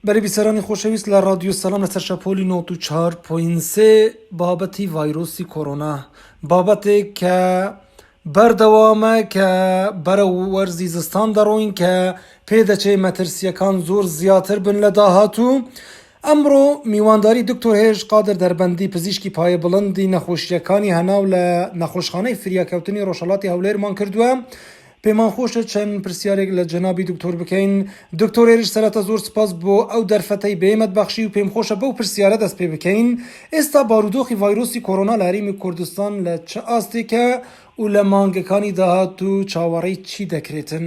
بەرێ بیسەرانی خۆشەویست لە ڕادیۆ سەلام لەسەر شەپۆلی نۆت و چار پۆین سێ بابەتی ڤایرۆسی کۆرۆنا بابەتێک کە بەردەوامە کە بەرە وەرزی زستان دەڕۆین کە پێدەچێ مەترسیەکان زۆر زیاتر بن لە داهاتوو ئەمڕۆ میوانداری دکتۆر هێش قادر دەربەندی پزیشکی پایە بڵندی نەخۆشیەکانی هەناو لە نەخۆشخانەی فریاکەوتنی ڕۆژهڵاتی هەولێرمان کردووە پێمان خۆشە چەند پرسیارێک لە جەنابی دکتۆر بکەین، دکتۆر هێرش سەرەتا زۆر سپاس بۆ ئەو دەرفەتەی بەێمەت بەخشی و پێم خۆشە بەو پرسیارە دەست پێ بکەین، ئێستا بارودۆخی ڤایرۆسی کۆرۆنا لە هەرێمی کوردستان لە چ ئاستێکە و لە مانگەکانی داهاتوو چاوەڕێی چی دەکرێتن؟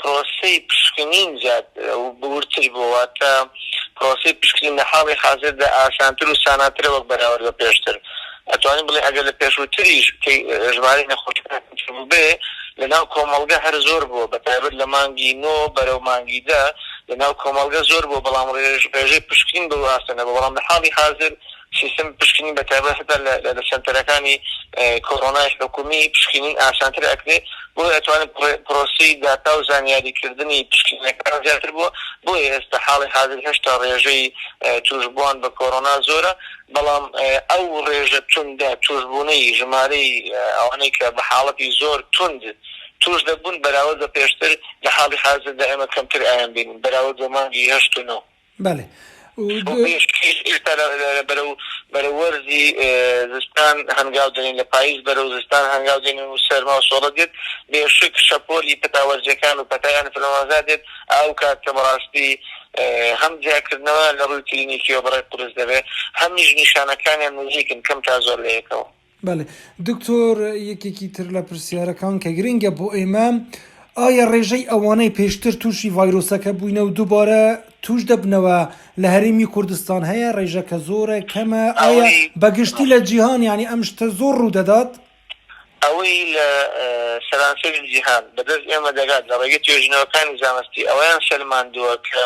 پرۆسەی پشکنین زیاد و بورتر بووە، واتە پرۆسەی پشکنین لە حاڵی حازردا ئاسانتر و ساناترە وەک بەراورد بە پێشتر، ئەتوانین بڵێین ئەگەر لە پێشووتریش ژمارەی نەخۆشەکان کەمتر بووبێ، لەناو کۆمەڵگە هەر زۆر بووە، بە تایبەت لە مانگی نۆ بەرەو مانگی دە لەناو کۆمەڵگە زۆر بووە، بەڵام ڕێژەی پشکنین بەو ئاستە نەبووە، بەڵام لە حاڵی حازر، سیستم پشکنین بە تایبەت هەتا لە لە سەنتەرەکانی کۆرۆنای حکومی پشکنین ئاسانتر ئەکرێ بۆیە ئەتوانێت پرۆسەی داتا و زانیاری کردنی پشکنینەکان زیاتر بووە بۆیە ئێستا حاڵی حازر هێشتا ڕێژەی توشبوان بە کۆرۆنا زۆرە بەڵام ئەو ڕێژە توندە توشبونەی ژمارەی ئەوانەی کە بە حاڵەتی زۆر توند توش دەبوون بەراورد بە پێشتر لە حاڵی حازردا ئێمە کەمتر ئایان بینین بەراورد بە مانگی هەشت و نۆ. بەڵێ ئێستا بەرەو بەرەو وەرزی زستان هەنگاو دەنێین لە پایز بەرەو زستان هەنگاو دێنین و سەرما و سۆڵە دێت بێ شک شەپۆلی پەتا وەرزیەکان و پەتای ئەنفلۆنزا دێت ئەو کات کە بەڕاستی هەم جیاکردنەوەیان لە ڕووی کلینیکیەوە بەڕێ قورس دەبێت هەمیش نیشانەکانیان نزیکن کەم تا زۆر لەیەکەوە. بەڵێ دکتۆر یەکێکی تر لە پرسیارەکان کە گرنگە بۆ ئێمە ئایا ڕێژەی ئەوانەی پێشتر تووشی ڤایرۆسەکە بووینە و دووبارە توش دەبنەوە لە هەرێمی کوردستان هەیە ڕێژەکە زۆرە کەمە ئایا بەگشتی لە جیهان ینی ئەم شتە زۆر ڕوودەدات؟ ئەوەی لە سەرانسەری جیهان بەدەست ئێمە دەگات لە ڕێگەی توێژینەوەکانی زانستی ئەوەیان سەلماندووە کە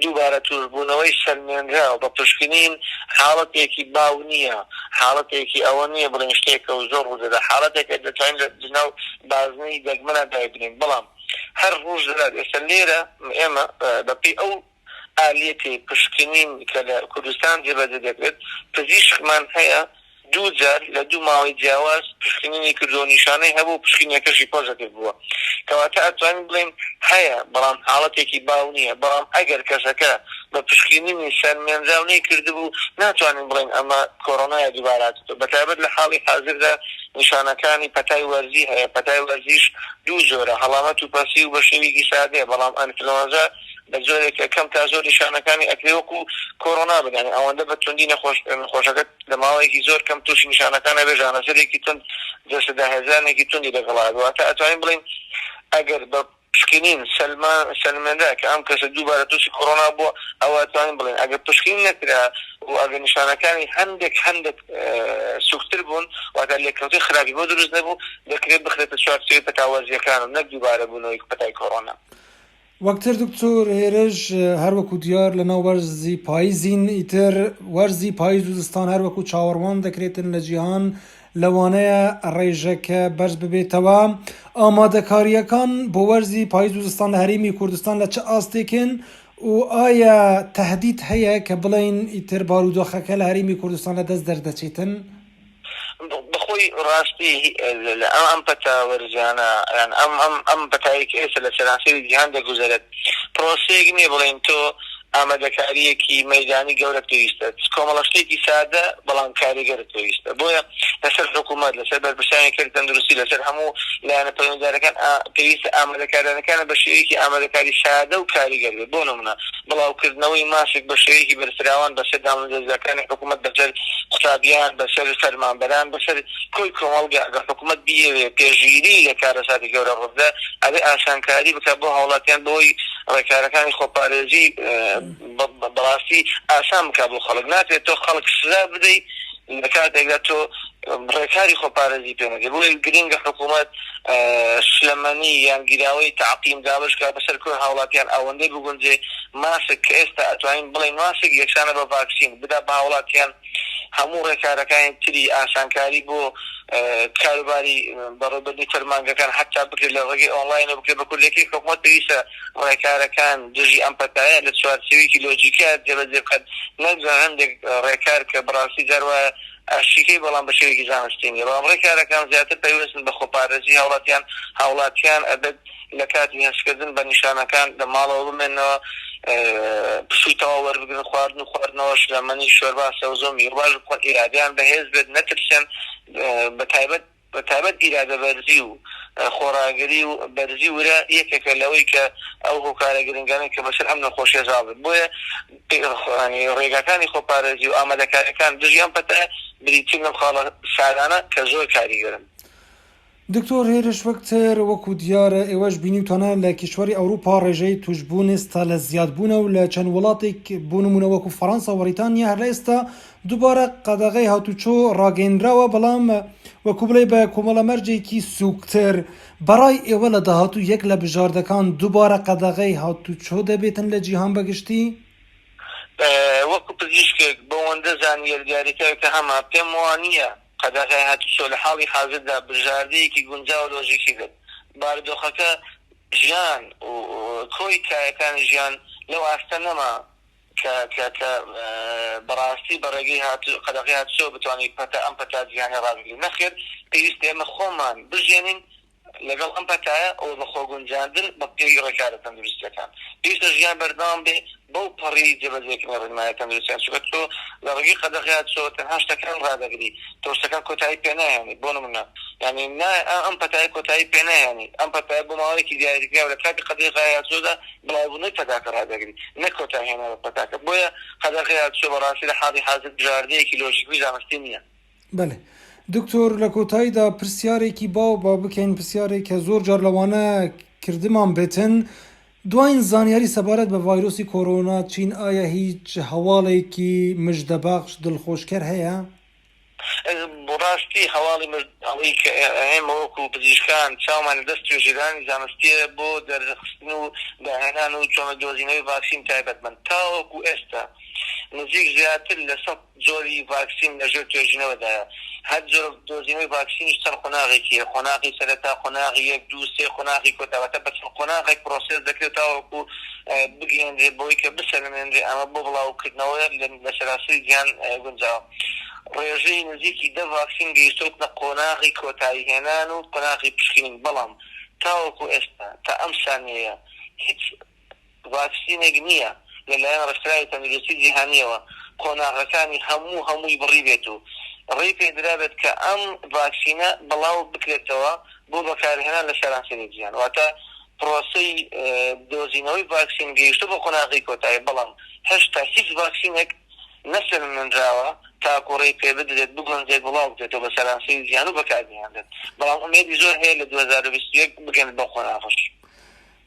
دووبارە توشبوونەوەی سەلمێنراو بە پشکنین حاڵەتێکی باو نییە، حاڵەتێکی ئەوە نییە بڵێین شتێکە و زۆر ڕوودەدات، حاڵەتێکە دەتوانین لە لەناو بازنەی دەگمەنا دایبنێین، بەڵام هەر ڕووش دەدات، ئێستا لێرە ئێمە بەپێی ئەو ئالیەتەی پشکنین کە لە کوردستان جێبەجێ دەکرێت، پزیشکمان هەیە دوو جار لە دوو ماوەی جیاواز پشکنینی کردووە و نیشانەی هەبوو و پشکینەکەشی پۆزەتیڤ بووە، کەواتە ئەتوانین بڵێین هەیە، بەڵام حاڵەتێکی باو نییە، بەڵام ئەگەر کەسەکە بە پشکینینی سەر مێنراو نەیکردبوو، ناتوانین بڵێین ئەمە کۆرۆنایە دووبارە هاتووتەوە، بەتایبەت لە حاڵی حازردا نیشانەکانی پەتای وەرزی هەیە، پەتای وەرزیش دوو جۆرە، هەڵامەت و پەسیو بە شێویکی سادەیە، بەڵام ئەنفلۆنزا بە جۆرێکە کەم تا زۆر نیشانەکانی ئەکرێ وەکو کۆرۆنا بن، یانی ئەوەندە بە توندی نەخۆشەکە لە ماوەیەکی زۆر کەم تووشی نیشانەکان ئەبێ، ژانەسەرێکی توند جەستە داهێزرانێکی توندی لەگەڵا ئەبێ، واتە ئەتوانین بڵێین ئەگەر بە. پشکنین سەلمێنرا کە ئەم کەسە دووبارە تووشی کۆرۆنا بووە، ئەوا توانین بڵێین ئەگەر پشکنین نەکرا و ئەگەر نیشانەکانی هەندێک هەندێک سووکتر بوون، واتە لێکەوتەی خراپی بۆ دروست نەبوو، دەکرێت بخرێتە چوارچێوەی پەتاوازییەکان و نەک دووبارە بوونەوەی پەتای کۆرۆنا. وەکتر دکتۆر هێرش، هەر وەکو دیار لەناو وەرزی پاییزین، ئیتر وەرزی پاییز و زستان هەر وەکو چاوەڕوان دەکرێتن لە جیهان، لەوانەیە ڕێژەکە بەرز ببێتەوە. ئامادەکارییەکان بۆ وەرزی پاییز و زستان لە هەرێمی کوردستان لە چ ئاستێکن و ئایا تەهدید هەیە کە بڵێین ئیتر بارودۆخەکە لە هەرێمی کوردستان لە دەست دەردەچێتن؟ بەخۆی ڕاستی ئەم پەتا وەرزیانە یان ئەم پەتایەی کە ئێستا لە سەرانسەری جیهان دەگوزەرێت پرۆسەیەک نییە بڵێین تۆ ئامادەکارییەکی مەیدانی گەورەت پێویستە، چ کۆمەڵە شتێکی سادە بەڵام کاریگەرت پێویستە، بۆیە لەسەر حکوومەت، لەسەر بەرپرسانی کەرتی تەندروستی، لەسەر هەموو لایەنە پەیوەندیدارەکان پێویستە ئامادەکاریانەکانت بە شێوەیەکی ئامادەکاری سادە و کاریگەر بێت، بۆ نموونە بڵاوکردنەوەی ماسک بە شێوەیەکی بەرفراوان بەسەر دامەزرێزراکانی حکوومەت، بەسەر قوتابیان، بەسەر فەرمانبەران، بەسەر. کۆی کۆمەڵگە ئەگەر حکومەت بیەوێت پێشگیری لە کارەساتی گەورە ڕووبدات ئەبێت ئاسانکاری بکات بۆ هاوڵاتیان بەوەی ڕێکارەکانی خۆپارێزی بەڕاستی ئاسان بکات بۆ خەڵک ناکرێت تۆ خەڵک سزا بدەیت لە کاتێکدا تۆ ڕێکاری خۆپارێزی پێ نەدەیت بۆیە گرنگە حکومەت شلەمەنی یان گیراوەی تەعقیم دابەش کات بەسەر کۆی هاوڵاتیان ئەوەندەی بگونجێ ماسک کە ئێستا ئەتوانین بڵێین ماسک یەکسانە بە ڤاکسین بدا بە هاوڵاتیان هەموو ڕێکارەکانی تری ئاسانکاری بۆ کاروباری بەڕێوەبردنی فەرمانگەکان هەتا بکرێت لە ڕێگەی ئۆنڵاینەوە بکرێت، بە کوردییەکەی حکومەت پێویستە ڕێکارەکان دژی ئەم پەتایە لە چوارچێوەیەکی لۆجیکییە جێبەجێ بکات، نەک جا هەندێک ڕێکار کە بەڕاستی جار وایە ئەشیکەی بەڵام بە شێوەیەکی زانستی نییە، بەڵام ڕێکارەکان زیاتر پەیوەستن بە خۆپارێزی هاوڵاتیان، هاوڵاتیان ئەبێت لە کاتی هەستکردن بە نیشانەکان لە ماڵەوە بمێننەوە، پشووی تەواو وەربگرن، خواردن و خواردنەوەش لە مەنی، شۆربا، سەوزە و میوە باش بخۆن، ئیرادەیان بەهێز بێت، نەترسێن، بەتایبەت بەتایبەت ئیرادە بەرزی و خۆڕاگری و بەرزی ورە یەکێکە لەوەی کە ئەو هۆکارە گرنگانەی کە بەسەر ئەم نەخۆشیە زاڵ بێت بۆیە ڕێگاکانی خۆپارێزی و ئامادەکاریەکان دژی ئەم پەتایە بریتین لەم خاڵە سادانە کە زۆر کاریگەرن. دکتۆر هێرش وەکتەر، وەکو دیارە ئێوەش بینیوتانە لە کیشوەری ئەوروپا ڕێژەی توشبوون ئێستا لە زیاد بوونە و لە چەند وڵاتێک بۆ نموونە وەکو فەڕەنسا و بەڕیتانیا هەر لە ئێستا دووبارە قەدەغەی هاتووچۆ ڕاگەیەنراوە بەڵام وەکو بڵێی بە کۆمەڵە مەرجێکی سووکتر بەڕای ئێوە لە داهاتوو یەک لە بژاردەکان دووبارە قەدەغەی هاتووچۆ دەبێتن لە جیهان بە گشتی؟ وەکو پزیشکێک بەوەندە زانیەرگاریکاکە هەمە پێم وانیە. قەداغای هاتوچۆ لە حاڵی حازردا بژاردەیەکی گونجاو و لۆژیکی بێت، بارودۆخەکە ژیان و کۆی کایەکانی ژیان لەو ئاستە نەما کە کە کە بە ڕاستی بە ڕێگەی هاتو قەداغەی هاتوچۆوە بتوانین پەتا ئەم پەتا جیهانیە ڕابگرین. نەخێر پێویستە ئێمە خۆمان بژیێنین. لەگەڵ ئەم پەتایە و بە خۆگونجاندن بە پێی ڕێکارە تەندروستییەکان، پێویستە ژیان بەردەوام بێ بەو پەڕی جێبەجێکردنی ڕێنماییە تەندروستییان، چونکە تۆ لە ڕێگەی قەدەغەیە چۆ تەنها شتەکان ڕادەگری، تۆ شتەکان کۆتایی پێناهێنیت، بۆ نمونە یانی نایە ئەم پەتایە کۆتایی پێناهێنیت، ئەم پەتایە بۆ ماوەیەکی دیاریکراو لە کاتی قەدەغەیە چۆدا بڵاوبوونەوەی پەتاکە ڕادەگری، نەک کۆتایهێنانی پەتاکە، بۆیە قەدەغەیە چۆ بەڕاستی لە حاڵی حازر بژاردەیەکی لۆژیکی و زانستی نییە. بەلێ دکتۆر لە کۆتایدا پرسیارێکی باو با بکەین پرسیارێک کە زۆر جار لەوانە کردمان بێتن دواین زانیاری سەبارەت بە ڤایرۆسی کۆرۆنا چین ئایا هیچ هەواڵێکی مژدەبەخش دڵخۆشکەر هەیە؟ بەڕاستی هەواڵی مژدەئەوەی کە ئێمە وەکو پزیشکان چاومان لە دەست توێژیرانی زانستیە بۆ دەرخستن و داهێنان و چۆنە دۆزینەوەی ڤاکسین تایبەتمەند تاوەکو ئێستا نزیک زیاتر لە سەد جۆری ڤاکسین لە ژێر توێژینەوەدایە، هەر جۆرە دۆزینەوەی ڤاکسینیش چەند قۆناغێکی هەیە، قۆناغی سەرەتا، قۆناغی یەک، دوو، سێ، قۆناغی کۆتا، واتە بە چەند قۆناغێک پرۆسێس دەکرێت تاوەکو بگەیەنرێت بەوەی کە بسەلمێنرێت ئەمە بۆ بڵاوکردنەوە لە سەرانسەری جیهان گونجاوە. ڕێژەی نزیکی دە ڤاکسین گەیشتۆتنە قۆناغی کۆتایی هێنان و قۆناغی پشکنین، بەڵام تاوەکو ئێستا تا ئەم سانیەیە هیچ ڤاکسینێک نییە لەلایەن ڕێکخراوی تەندروستی جیهانییەوە قۆناغەکانی هەموو هەمووی بڕیبێت و ڕێی پێدرابێت کە ئەم ڤاکسینە بڵاو بکرێتەوە بۆ بەکارهێنان لە سەرانسەری جیهان واتە پرۆسەی دۆزینەوەی ڤاکسین گەیشتووە بە قۆناغەی کۆتایی بەڵام هێشتا هیچ ڤاکسینێک نەسەلمێنراوە تاکو ڕێی پێبدرێت بگونجێت بڵاو بکرێتەوە بە سەرانسەری جیهان و بەکاربهێنرێت بەڵام ئومێدی زۆر هەیە لە دوو هەزار و بیست و یەک بگەن بەو قۆناغەش.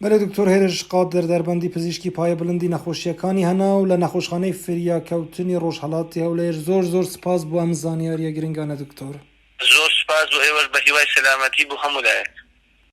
بەرێ دکتۆر هێرش قادر دەربەندی پزیشکی پایە بلندی نەخۆشیەکانی هەناو لە نەخۆشخانەی فریاکەوتنی ڕۆژهەڵاتی هەولێر زۆر زۆر سپاس بۆ ئەم زانیاریە گرنگانە دکتۆر. زۆر سوپاس بۆ ئێوەش بەهیوای سەلامەتی بۆ هەموو لایەک.